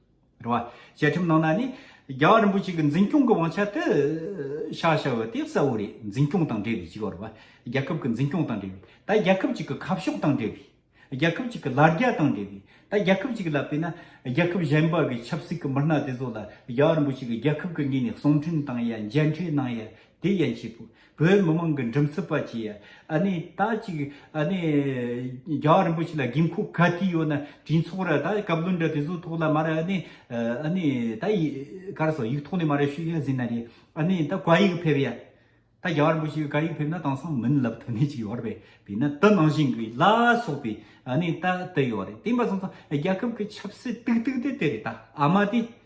B: བ། བཅའ་ཁྲིམས་ནང་ན་ནི། རྒྱལ་བ་རིན་པོ་ཆེ་གི་འཛིན་སྐྱོང་གི་དབང་ཆ་དེ། ཤ་ཤ་བོ་དེ་གསལ་བོ་རེད་འཛིན་སྐྱོང་དང་འབྲེལ་བའི་གཅིག་བར་བ། རྒྱལ་ཁབ་ཀྱི་འཛིན་སྐྱོང་དང་འབྲེལ་བའི། ད་རྒྱལ་ཁབ་ཅིག་གི་ཁ་ཕྱོགས་དང་འབྲེལ་བའི། རྒྱལ་ཁབ་ཅིག་གི་ལ་རྒྱ་དང་འབྲེལ་བའི། ད་རྒྱལ་ཁབ་ཅིག་ལ་བལྟས་ན། རྒྱལ་ཁབ་གཞན་པ་གི་ཆབ་སྲིད་ཀྱི་མི་སྣ་དེ་ཚོ་ལ་རྒྱལ་བ་རིན་པོ་ཆེ་གི་རྒྱལ་ཁབ་ཀྱི་ངོས་ནས་གསུང་འཕྲིན་བཏང་ཡ་མཇལ་འཕྲད་གནང་ཡ་དེ་ཡན་ཆད་པོ། བོད་མི་མང་གི་འགྲིམ་སྲིད་པ་བཅས་ཨ་ནི་ད་ཅིག་ཨ་ནི་རྒྱ་རིན་པོ་ཆེ་ལ་དགོས་མཁོ་ག་དུས་ཡོད་ན་དུས་འཚོག་ར་ད་བཀའ་བློན་འདྲ་དེ་ཚོ་ཐོག་ལ་མ་ར་ཨ་ནི་ཨ་ནི་ད་གར་སོ་ཡིག་ཐོག་ནས་མ་ར་ཤུ་ཡ་ཟིན་ན་རེད་ཨ་ནི་ད་བཀའ་ཡིག་ཕེབས་ཡ་ད་རྒྱ་རིན་པོ་ཆེ་བཀའ་ཡིག་ཕེབས་ན་དེང་སང་མིན་ལབ་ཐུ་ནི་ཅིག་ཡོད་རེད་བས་ན་ད་ནང་བཞིན་གི་ལ་སོག་པའི་ཨ་ནི་ད་དེ་ཡོད་རེད་དེ་མ་སོང་ཙང་རྒྱ་ཁབ་གི་ཆབ་སྲིད་ཏིག་ཏིག་དེ་དེ་རེད་ད་ཨ་མ་དེ།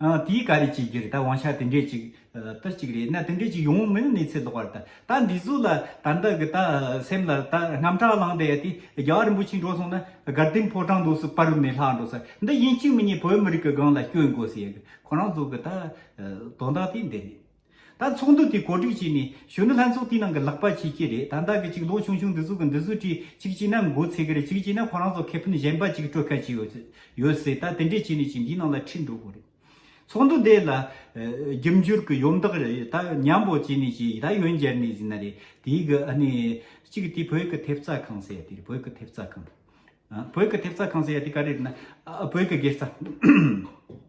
B: ཨང། དེའི་ག་རེ་བྱེད་རྒྱུ་རེད་ད་དབང་ཆ་དེ་འདྲས་ཅིག་ཏར་ཅིག་རེད་ན་དེ་འདྲས་ཅིག་ཡོང་མིན་གནས་ཚད་ལོག་པ་རེད་ད། ད་འདི་གཟུགས་ལ་ད་འདི་གི་ད་སེམས་ལ་ད་རྔམ་སྐྲག་ལངས་ཏེ་ཡ་དེ་རྒྱ་བ་རིན་པོ་ཆེ་འགྲོ་སོང་ན་དགའ་ལྡན་ཕོ་བྲང་དུ་སུ་དཔའ་རུ་མེད་ལྷག་འགྲོ་ས་འདི་ཡིན་གཅིག་མི་གཉིས་བོད་མི་རིགས་ཀྱི་སྒང་ལ་སྐྱོན་དགོས་ཟེར་ཡ་གི་ཁོ་རང་ཚོ་གི་ད་དོན་དག་དེ་འདི་རེད། ད་ཚོགས་འདུ་དེ་གོ་སྒྲིག་བྱས་ནས་གཞོན་ནུ་ལྷན་ཚོགས་དེའི་ནང་གི་ལག་པ་བྱེད་ཀྱི་རེད་ད་ལྟ་གི་ཅིག་ལོ་ཆུང་ཆུང་འདི་ཚོ་གི་འདི་ཚོ་གྲིས་ཅིག་བྱས་ན་མགོ་ཚེ་གི་རེད་ཅིག་བྱས་ན་ཁོ་རང་ཚོ་ཁེ་ཕན་གཞན་པ་ཅིག་སྤྲོད་གལ་ཆེ་ཡོད་ཡོད་སྲིད་ད་དེ་འདྲས་བྱས་ནས་ཅིག་འདིའི་ནང་ལ་ཁྲིད་འགྲོ་དགོས་རེད། ཚོགས་འདུ་དེ་ལ་རྒྱབ་འཇུར་གི་ཡོམ་འདག་རེད་ད་མཉམ་པོ་བྱས་ནས་ཅིག་ད་ཡོན་སྦྱར་ནས་ཟིན་ན་རེད་དེའི་གི་ཨ་ནི་ཅིག་དེ་བོད་གི་ཐེབས་རྩ་ཁང་ཟེར་ཡ་དེ་རེད་བོད་གི་ཐེབས་རྩ་ཁང་བོད་གི་ཐེབས་རྩ་ཁང་ཟེར་ཡ་དེ་ག་རེ་རེད་ན་བོད་གི་སྒེར་རྩ།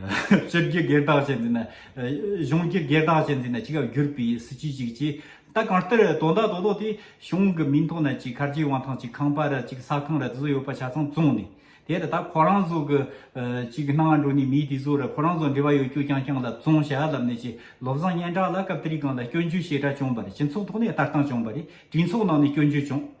B: ཕྱི་རྒྱལ་སྒེར་བདག་བྱས་འཛིན་ན། གཞུང་གིས་སྒེར་བདག་བྱས་འཛིན་ན་ཅི་ག་བསྒྱུར་པའི་སྲིད་ཇུས་ཅིག་ཅེས། ད་གང་ལྟར་དོ་བདག་དོ་བདག་དེ་གཞུང་གི་མིང་ཐོག་ན་ཅིག་གར་གྱི་དབང་ཐང་ཅིག་ཁང་པ་ར་ཅིག་ས་ཁང་ར་དེ་ཚོ་ཡོད་པ་ཆ་ཚང་བཙོངས་ནས། དེར་ད་ཁོ་རང་ཚོ་གི་ཅིག་གི་སྣང་བ་འགྲོ་ནས་མི་དེ་ཚོ་ར་ཁོ་རང་ཚོ་འབྲེལ་བ་ཡོད་རྒྱུ་རྐྱང་རྐྱང་ལ་བཙོང་བྱ་ལབ་ནས་ཅིག་ལོ་བཟང་སྙན་གྲགས་ལ་སྐབས་དེ་རིགས་གང་ལ་སྐྱོན་བརྗོད་ཞེ་དྲག་བྱུང་བ་རེད་སྤྱི་ཚོགས་ཐོག་ནས་ལྟ་སྟངས་བྱུང་བ་རེད་གྲོས་ཚོགས་ནང་ནས་སྐྱོན་བརྗོད་བྱུང།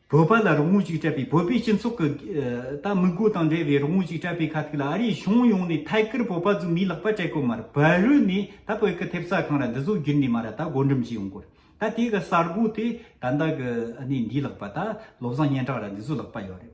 B: བོད་པ་ལ་རོགས་དངུལ་ཅིག་སྤྲད་པའི་བོད་པའི་སྤྱི་ཚོགས་ཀྱི་ད་དམིགས་སྒོ་དང་འབྲེལ་བའི་རོགས་དངུལ་ཅིག་སྤྲད་པའི་ཁ་ཐུག་ལ་ཨ་རིའི་གཞུང་ཡོངས་ནས་ཐད་ཀར་བོད་པ་རྫུན་མའི་ལག་པ་སྤྲད་དགོས་མར་བལ་རུལ་ནས་ད་བོད་ཀྱི་ཐེབས་རྩ་ཁང་ར་འདི་ཟོ་རྒྱུན་ནས་མ་ར་ད་བགོ་འགྲེམས་བྱས་ཡོང་སྐོར་ད་དེ་ག་གསར་འགོ་དེ་ད་འདའ་གི་ཨ་ནེ་འདིའི་ལག་པ་ད་བློ་བཟང་སྙན་གྲགས་ར་འདི་ཟོ་ལག་པ་ཡོད་རེད་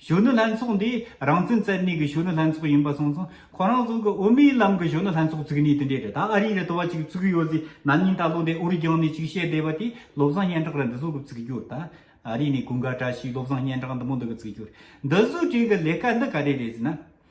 B: གཞོན་ནུ་ལྷན་ཚོགས་འདི་རང་བཙན་རྩལ་ནུས་ཀྱི་གཞོན་ནུ་ལྷན་ཚོགས་ཡིན་པ་སོང་ཙང་ཁོ་རང་ཚོ་གི་དབུ་མའི་ལམ་གྱི་གཞོན་ནུ་ལྷན་ཚོགས་བཙུགས་ནས་དེ་འདྲའི་རེད་ད་ཨ་རིའི་རེ་ད་བ་ཅིག་བཙུགས་གི་ཡོད་ཟེར་ནམ་ཉིན་ད་ལོ་འདི་ཨོ་རི་རྒྱང་ནས་ཅིག་བཤད་བསྡད་པ་དེས་བློ་བཟང་སྙན་གྲགས་རེད་འདི་ཟུར་གྱི་བཙུགས་རྒྱུར་ད་ཨ་རི་ནས་གུང་དཀར་བཀྲ་ཤིས་བློ་བཟང་སྙན་གྲགས་འདི་མོ་འདི་གི་བཙུགས་རྒྱུར་འདི་ཟུར་དྲན་གི་ལས་ཀ་འདི་ག་རེ་རེད་ཟེར་ན།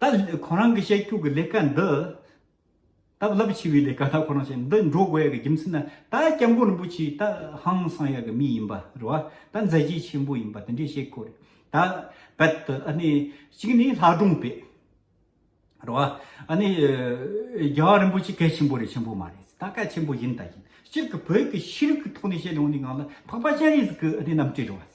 B: ད་ཁོ་རང་གི་བཤད་ཁྱུག་གི་ལས་ཀ་འདི། ད་རླབས་ཆེ་བའི་ལས་ཀ་ད་ཁོ་རང་བྱེད་འདི་འགྲོ་དགོས་ཡག་གི་རྒྱུ་མཚན་ནི་ད་སྐྱབས་མགོན་རིན་པོ་ཆེ་ད་ཧང་སང་ཡག་གི་མི་ཡིན་པ་རེད་བ་ད་མཛད་རྗེས་ཆེན་པོ་ཡིན་པ་དེ་འདྲའི་བཤད་ཁོ་རེད་ད་རྦད་དེ་ཨ་ནི་གཅིག་ནི་ལྷ་སྒྲུང་པས་རེད་བ་ཨ་ནི་རྒྱལ་བ་རིན་པོ་ཆེ་སྐད་ཆེན་པོ་རེད་ཆེན་པོ་མ་རེད་ད་སྐད་ཆེན་པོ་ཡིན་ད་ཡིན་སྤྱིར་གི་བོད་ཀྱི་ཤེས་རིག་གི་ཐོག་ནས་བཤད་ལུང་ནི་ངང་ལ་འཕགས་པ་སྤྱན་རས་གཟིགས་ཀྱི་ཨ་ནི་རྣམ་སྤྲུལ་རེད་བ་སྲིད།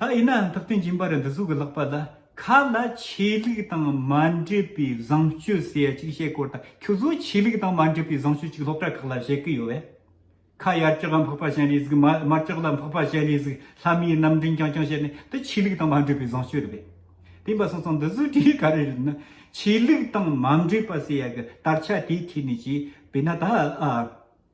B: ད་ཡིན་ནའང་ཐུབ་བསྟན་སྦྱིན་པ་རི་འདི་གཟུགས་ཀྱི་ལག་པ་ལ་ཁ་ལ་ཆོས་ལུགས་དང་མ་འབྲེལ་བའི་བཟང་སྤྱོད་ཟེར་ཡ་གཅིག་བཤད་སྐོར་དང་ཁྱོད་ཚོ་ཆོས་ལུགས་དང་མ་འབྲེལ་བའི་བཟང་སྤྱོད་གཅིག་སློབ་གྲྭ་ཁག་ལ་བཤད་ཀི་ཡོད་བས། ཁ་ཡར་ལྕགས་ལ་འཕགས་པ་བྱས་ནས་གཟིགས་མར་ལྕགས་ལ་འཕགས་པ་བྱས་ནས་གཟིགས་ལྷ་མིའི་རྣམ་འདྲེན་རྐྱང་རྐྱང་བྱས་ནས་འདི་ཆོས་ལུགས་དང་མ་འབྲེལ་བའི་བཟང་སྤྱོད་རེད་བས། བསྟན་པ་སོང་ཙང་འདི་བཟོ་གྲྭའི་ག་རེ་རེད་ན་ཆོས་ལུགས་དང་མ་འབྲེལ་པ་ཟེར་ཡ་གི་དར་ཆ་དེའི་ཐད་ནས་བྱས་བས་ན་ད་ཨ།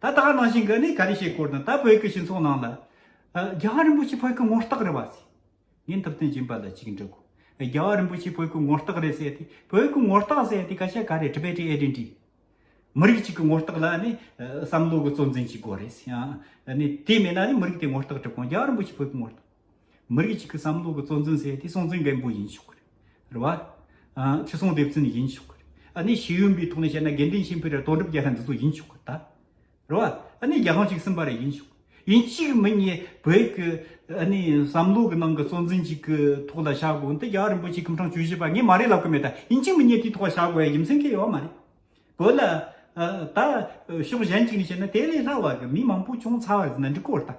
B: ད་ལྟ་གནང་བཞིན་གི་ནི་ག་རེ་བྱེད་སྐོར་དང་ད་བོད་ཀྱི་སྤྱི་ཚོགས་ནང་ལ། རྒྱ་གར་རིན་པོ་ཆེ་བོད་ཀྱི་ངོ་རྟགས་རེད་བ་ཟེར། ངས་འཐབ་རྩོད་སྦྱིན་པ་ལ་གཅིག་འདྲི་དགོས། རྒྱ་གར་རིན་པོ་ཆེ་བོད་ཀྱི་ངོ་རྟགས་རེད་ཟེར་ཏེ་བོད་ཀྱི་ངོ་རྟགས་ཟེར་ཏེ་ག་ཤ་ག་རེད Tibetan Identity། མི་རིགས་གཅིག་གི་ངོ་རྟགས་ལ་ནི་བསམ་བློ་གི་གཙོ་འཛིན་གཅིག་དགོས་རེད། ནི་དེ་མེད་ན་ནི་མི་རིགས་དེའི་ངོ་རྟགས་གྲུབ་གོང་རྒྱ་གར་རིན་པོ་ཆེ་བོད་ཀྱི་ངོ་རྟགས། མི་རིགས་གཅིག་གི་བསམ་བློ་གི་གཙོ་འཛིན་ཟེར་དེ་སྲོང་བཙན་སྒམ་པོ་ཡིན་ཆོག་གི་རེད་བ། ཁྲི་སྲོང་ལྡེ་བཙན་ཡིན་ཆོག་གི་རེད། ཨ་ནི་ཤེས་ཡོན་པའི་ཐོག་ནས་བཤད་ན་དགེ་འདུན་ཆེན་ཕེར་ར་དོན་གྲུབ་རྒྱལ་ལྷ་འདི་ཚོ་ཡིན་ཆོག་གི་རེད། རེད་བ། ཨ་ནི་རྒྱལ་ཁང་གཅིག་གསུམ་པ་རེ་ཡིན་ཆོག་གི་ཡིན་གཅིག་མི་གཉིས་བོད་ཀྱི་ཨ་ནི་བསམ་བློ་གི་ནང་གི་གཙོ་འཛིན་གཅིག་གི་ཐོག་ལ་བྱ་དགོས་འདི་རྒྱ་གར་རིན་པོ་ཆེ་ཁྱིམ་ཚང་བཅུ་བཞི་པ་ངས་མ་རེད་ལབ་གི་མེད་ད་ཡིན་གཅིག་མི་གཉིས་དེའི་ཐོག་ལ་བྱ་དགོས་ཡ་ཡིན་མཚན་གྱི་ཡོད་བ་མ་རེད། བོད་ལ་ད་ཕྱོགས་གཞན་གཅིག་ནས་བཤད་ན་དེ་ལས་སླ་བ་གི་མི་མང་པོ་ཅུང་ཚ་བ་རེད་ན་འགྲིག་གོ་རེད་ད།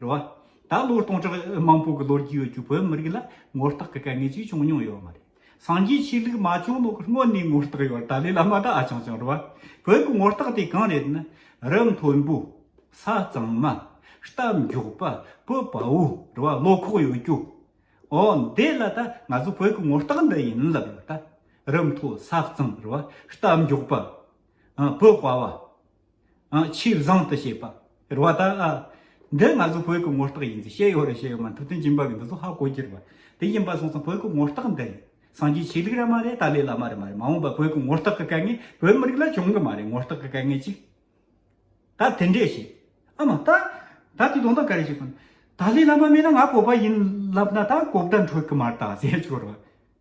B: རེད་བ། ད་ལོ་སྟོང་ཕྲག་མང་པོ་གི་ལོ་རྒྱུས་ཡོད་ཀྱི་བོད་བོད་མི་རིགས་ལ་ངོ་རྟགས་ཀྱི་དཀའ་ངལ་ཅིག་བྱུང་མྱོང་ཡོད་མ་རེད། སངས་རྒྱས་ཆོས་ལུགས་མ་བྱུང་ལོག་སྔོན་ནས་ངོ་རྟགས་ཡོད་ད་ལོའི་ལ་མ་ད་ཨ་ཆང་ཆང་རེད་བ། བོད་ཀྱི་ངོ་རྟགས་དེ་གང་རེད་ན། རི་མཐོན་པོ། ས་གཙང་མ། རྟ་མགྱོགས་པ། བུ་དཔའ་བོ། རེད་བ་ལོ་ཁོག་ཡོད་རྒྱུ། འོ་འདི་ལ་ད་ང་ཚོ་བོད་ཀྱི་ངོ་རྟགས་འདི་ཡིན་ལབ་ཡོད་ད། རི་མཐོ་ས་གཙང་རེད་བ། རྟ་མགྱོགས་པ། བུ་དཔའ་བ། ཆོས་བཟང་དུ་བྱེད་པ། རེད་བ་ད། འདི་ང་ཚོའི་བོད་ཀྱི་ངོ་རྟགས་ཡིན་ཟེར་ཤེས་ཡོད་རེད་ཤེས་ཡོད་མ་ཐུབ་དོན་སྦྱིན་པ་གི་འདི་ཚོ་ཧ་གོ་གྱི་རེད་བ། དེ་ཡིན་པ་སོང་ཙང་བོད་ཀྱི་ངོ་རྟགས་འདི་རེད། སངས་རྒྱས་ཆོས་ལུགས་ར་མ་རེད་ཏཱ་ལའི་བླ་མ་རེད་མ་རེད་མ་འོངས་པ་བོད་ཀྱི་ངོ་རྟགས་ཀྱི་དཀའ་ངལ་བོད་མི་རིགས་ལ་བྱུང་གི་མ་རེད་ངོ་རྟགས་ཀྱི་དཀའ་ངལ་ཅིག། ད་དེ་འདྲས་བྱེད། ཨ་མ་ད། ད་དེ་དོན་དག་ག་རེ་བྱེད་དགོས། ཏཱ་ལའི་བླ་མ་མེད་ན་ང་བོད་པ་ཡིན་ལབ་ན་ད་གོ་བརྡ་འཕྲོད་གི་མ་རེད་ད་ཟེར་ཆོག་རེད་བ།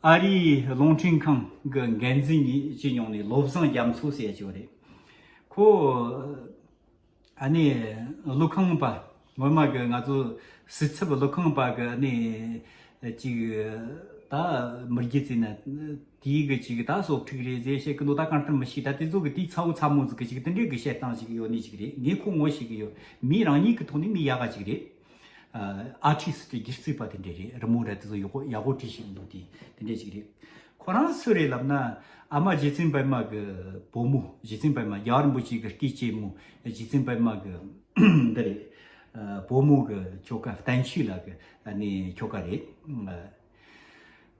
B: ཨ་རིའི་རླུང་འཕྲིན་ཁང་གི་འགན་འཛིན་གཉིས་སྤྱི་ཡོངས་ནས་བློ་བཟང་རྒྱ་མཚོ་ཟེར་བྱས་པ་རེད། ཁོ་ཨ་ནི་ཀླུ་ཁང་པ་ངོ་མ་གི་ང་ཚོ་སྲིད་ཚབ་ཀླུ་ཁང་པ་གི་ཨ་ནི་ཅིག་ད་མི་རྒྱུ་རྩིས་ན་དེའི་གི་ཅིག་ད་སོག་ཁྲིག་རེད་ཟེར་བཤད་གི་འདུག་ད་གང་ལྟར་མི་ཤེས་ད་དེ་ཚོ་གི་དེའི་ཚ་བོ་ཚ་མོ་ཟིག་གི་ཅིག་དེ་འདྲའི་གི་བཤད་སྟངས་ཞིག་ཡོད་ནི་ཅིག་རེད་ངས་ཁོ་ངོ་ཤེས་གི་ཡོད་མིའི་རང་ཉིད་གི་ཐོག་ནས་མི་ཡག་ག་ཅིག་རེད། ཨ་ཁྲིད་སི་ཏི་སྒེར་རྩིས་པ་དེ་འདྲས་རེད་རི་མོ་ར་དེ་ཚོ་ཡག་པོ་ཡག་པོ་བྲིས་ཤིག་འདུག་དེ་དེ་འདྲས་ཞིག་རེད་ཁོ་རང་སུ་རེད་ལབ་ན་ཨ་མ་རྗེ་བཙུན་པད་མ་གི་བུ་མོ་རྗེ་བཙུན་པད་མ་རྒྱ་གར་རིན་པོ་ཆེ་གི་སྐྱེས་སྐྱེས་མོ་རྗེ་བཙུན་པད་མ་གི་འདི་རེད་བུ་མོ་གི་ཁྱོ་ག་བསྟན་ཆོས་ལགས་ཀྱི་ཁྱོ་ག་རེད།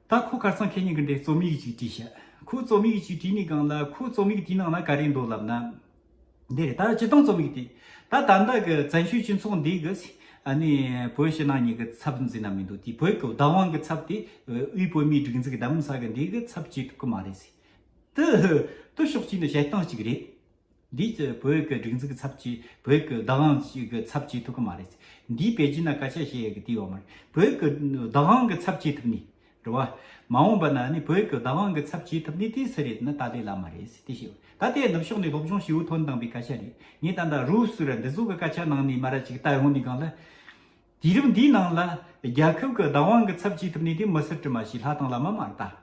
B: ད་ཁོ་ཁར་སང་ཁྱེད་གཉིས་ཀྱི་འདྲའི་རྩོམ་ཡིག་ཅིག་བྲིས་ཤག་ཁོའི་རྩོམ་ཡིག་ཅིག་བྲིས་ནས་སྒང་ལ་ཁོའི་རྩོམ་ཡིག་དེའི་ནང་ན་ག་རེ་འདུག་ལབ་ན། འདི་རེད་ད་ཇི་སྟོང་རྩོམ་ཡིག་དེ། ད་ད་ལྟ་གི་བཙན་བྱོལ་སྤྱི་ཚོགས་འདི་གི། ནི་བོད་ཕྱི་ནང་གཉིས་ཀྱི་ཚབ་འཛིན་ན་མི་འདུག་དེ་བོད་ཀྱི་བདག་དབང་གི་ཚབ་དེ། དབུས་བོད་མིའི་སྒྲིག་འཛུགས་ཀྱི་གདམ་ས་གི་འདི་གི་ཚབ་བྱེད་ཐུབ་ཀྱི་མ་རེད། དུ། ཤོག་ཅིག་ནི་བྱེད་སྟངས་ཅིག་རེད། འདིས་བོད་ཀྱི་སྒྲིག་འཛུགས་ཀྱི་ཚབ་བྱེད། བོད་ཀྱི་བདག་དབང་གི་ཚབ་བྱེད་ཐུབ་ཀྱི་མ་རེད། འདིས་པེ་ཅིན་ལ་བཀའ་ཤག་ཞེས་ཡི་གེ་བཏིས་ཡོད་མ་རེད། བོད་ཀྱི་བདག་དབང་གི་ཚབ་བྱེད་ཐུབ་ནི། འགྲོ་བ། མ་འོངས་པ་ན་ནི་བོད་ཀྱི་བདག་དབང་གི་ཚབ་བྱེད་ཐུབ་ནི་དེ་སུ་རེད་ན་ད་ལྟའི་ལ་མ་རེད། དེ་ཤེས་དགོས། ད་ལྟའི་ནུབ་ཕྱོགས་ནས་སློབ་སྦྱོང་ཞུས་ཐོན་བཏང་པའི་སྐད་ཆ་རེད། ངས་ད་ལྟ་རུའུ་སུ་ར་འདི་ཚོ་གི་སྐད་ཆ་ནང་ནས་མ་ར་ཅིག་ལྟ་ཡོང་ནི་གང་ལ། དུས་རིམ་འདིའི་ནང་ལ། རྒྱལ་ཁབ་ཀྱི་བདག་དབང་གི་ཚབ་བྱེད་ཐུབ་ནི་དེ་མི་སུ་དྲི་མ་ཞིག་ལྷ་དང་བླ་མ་མ་རེད་ད།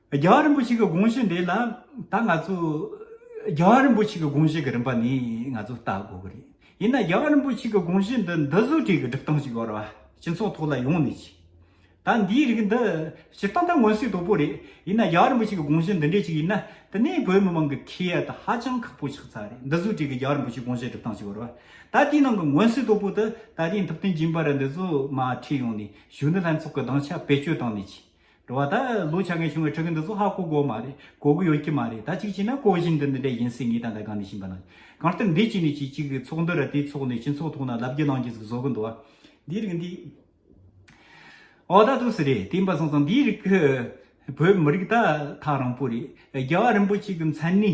B: རྒྱལ་བ་རིན་པོ་ཆེ་གི་དགོངས་གཞི་འདི་ལ་ད་ང་ཚོས་རྒྱལ་བ་རིན་པོ་ཆེ་གི་དགོངས་གཞི་གི་རིམ་པ་ནི་ང་ཚོས་བལྟ་དགོས་ཀྱི་རེད་ཡིན་ན་རྒྱལ་བ་རིན་པོ་ཆེ་གི་དགོངས་གཞི་འདི་འདི་བཟོ་སྒྲིག་གི་སྒྲིག་སྟངས་ཤིག་ཡོད་རེད་སྤྱི་ཚོགས་ཐོག་ལ་ཡོང་ནི་ཅི་ད་འདིའི་རིགས་འདི་ཇི་ལྟ་ད་མངོན་གསལ་དོད་པོ་རེད་ཡིན་ན་རྒྱལ་བ་རིན་པོ་ཆེ་གི་དགོངས་གཞི་འདི་འདྲས་ཅིག་ཡིན་ན་དེ་ནས་བོད་མི་མང་གི་ཁེ་ཡ་ད་ཧ་ཅང་ཁག་པོ་ཆགས་ཚར་རེད་འདི་བཟོ་སྒྲིག་གི་རྒྱལ་བ་རིན་པོ་ཆེ་དགོངས་གཞི་སྒྲིག་སྟངས་ཤིག་ཡོད་རེད་ད་དེའི་ནང་གི་མངོན་གསལ་དོད་པོ་དེ་ད་དེའི་མཐུད་བསྟན་སྦྱིན་པ་རེད་འདི་ཚོ་མ་ཁྲིད་ཡོང་ནི་བཞུགས་ནི་ལྷན་ཚོགས་གི་གདང་ཆ་བེད་སྤྱོད་བཏང་ནི་ཅི་འགྲོ་བ་ད་ལོ་ཆ་ངས་བྱུང་བའི་ཕྲུ་གུ་འདི་ཚོ་ཧ་གོ་དགོས་མ་རེད་གོ་གི་ཡོད་ཀྱི་མ་རེད་ད་གཅིག་བྱས་ན་གོ་བཞིན་འདི་འདི་འདྲ་ཡིན་སྲིད་ངེས་ད་ལྟ་གང་ནས་ཕྱིན་པ་ན་གང་ལྟར་འདི་གཅིག་ནས་གཅིག་གཅིག་གི་ཚོགས་འདུ་ར་དེའི་ཚོགས་ནས་སྤྱི་ཚོགས་ཐོག་ན་ལབ་རྒྱུ་ལངས་རྒྱུ་ཟིག་བཟོ་གི་འདུག་འདིའི་རིགས་འདི་འོ་ད་ཐུགས་སུ་རེད་བསྟན་པ་སོང་ཙང་འདིའི་རིགས་བོད་མི་རིགས་ད་ཐག་རིང་པོ་རེད་རྒྱལ་བ་རིན་པོ་ཆེ་གི་མཚན་ནི།